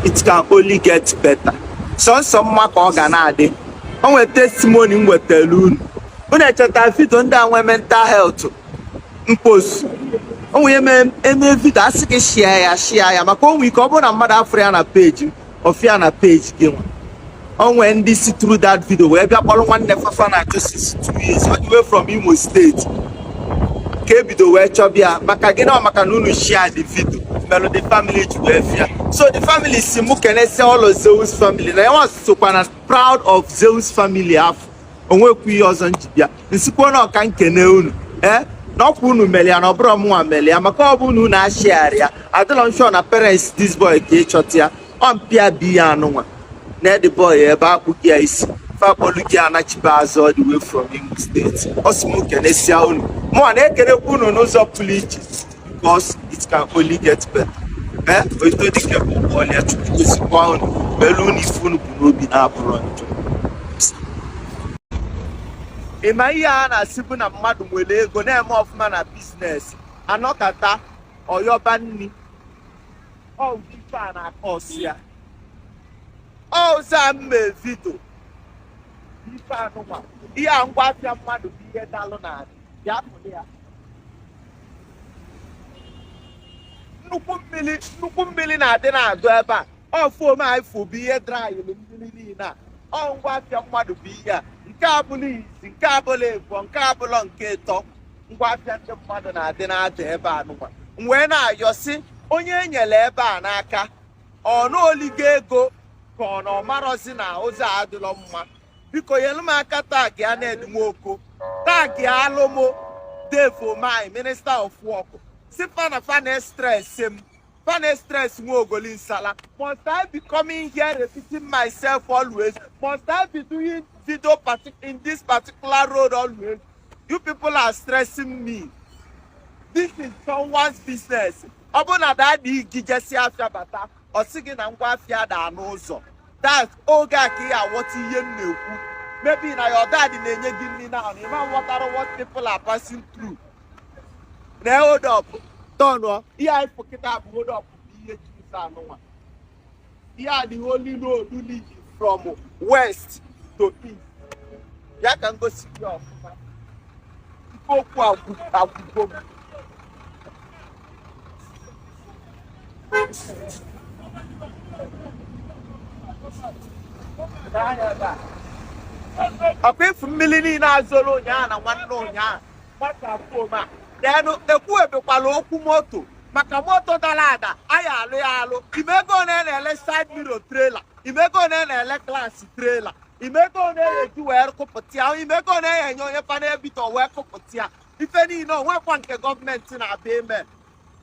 it can only get better sọsọ mma ka ọ ga na-adị o nwere testimony m wetara unu unu echeta vidio ndị a nwee mental health m post o nwere eme eme vidio a sị gị share ya share ya maka o nwere ike ọ bụrụ na mmadụ afụrọ ya na peji m ọ fụ ya na peji gịnwa o nwe ndị si through that video wee bịa kpọrọ nwanne fa fa na-achọ since two years all the way from Imo steeti ka ebido wee chọbịa maka gịnị ọ maka na unu share the video melu the family ji wee fụ ya so the family sị mụ kenesia all of Zeus family na yanwa sokwa na proud of Zeus family afụ o nwekwu ihe ọzọ m ji bịa m sịkwa na ọ ka m kene unu ee na ọkwa unu mere ya na ọ bụrọ mụnwa mere ya maka ọ bụ na unu ashiarọ ya adịrọ m sure na parents this boy ka achọta ya ọ mpa ya bụ ihe anụnwa na the boy ebe a kpụga ya isi fa akpọlụ ya nachibe azụ all the way from Imo steeti ọ sị m kenesia unu mụwa na-ekenekwa unu n'ụzọ pụrụ iche because it can only get better ee eh, oito dike bụ ọlịa Chukwu gọzikwa unu melu unu ife unu bu n'obi na-abụrọ njọ ị ma ihe a na-asị bụ na mmadụ nwere ego na-eme ọfụma na biznes anọkata ọ yọba nni ọ wụ ife a na-akọ ọsị ya ọza mme vidio ife anụnwa ihe a ngwa afịa mmadụ bụ ihe dalụ na adị ya pụrụ ya nnukwu mmiri nnukwu mmiri na-adị na-adọ ebe a ọ foam a ị fụ bụ ihe drayịlụ mmiri niile a ọ ngwa afịa mmadụ bụ ihe a nke a abụlọ izi nke a abụlọ ịbụọ nke a abụlọ nke ịtọ ngwa afịa ndị mmadụ na-adị na-ada ebe anụnwa m wee na-ayọ sị onye e nyere ebe a n'aka ọ na o ligo ego ka ọ na ọ marọzi na ụzọ adịlọ mma biko nyelu m aka tagịa Ned Nwoko tagịalụ m Dave Umahi minista of work sị fa na fa na-estress m fa na-estress nwa ogoli nsala must I be coming here repeating myself always must I be doing video in this particular road always you people are stressing me this is someone's business ọ bụrụ na daddy gị jesịa afịa bata ọ sị gị na ngwa afịa daa n'ụzọ that's oge a ka ị aghọta ihe m na-ekwu maybe na your daddy na-enye gị nri now ị ma ghọtara what people are passing through na hold up tọnụọ ihe anyị fụ kịta bụ hold up bụ ihe ji ụzọ anụnwa ihe a the only road leading from west to east ya ka m gosi gị ọfụma ife okwu agwụgo m ọkwa ị fụ mmiri niile a zoro ụnyaahụ na nwanne ụnyaahụ then ekwuebekwala okwu moto maka moto dala ada a ya-alụ ya alụ ị ma ego one na-ele side mirror trailer ị ma ego one na-ele glass trailer ị ma ego one na-eji wee kụpụta ya ị ma ego one na-enye onye panel beater wee kụpụta ya ife niine o nwekwa nke gọọmenti na-abịa ime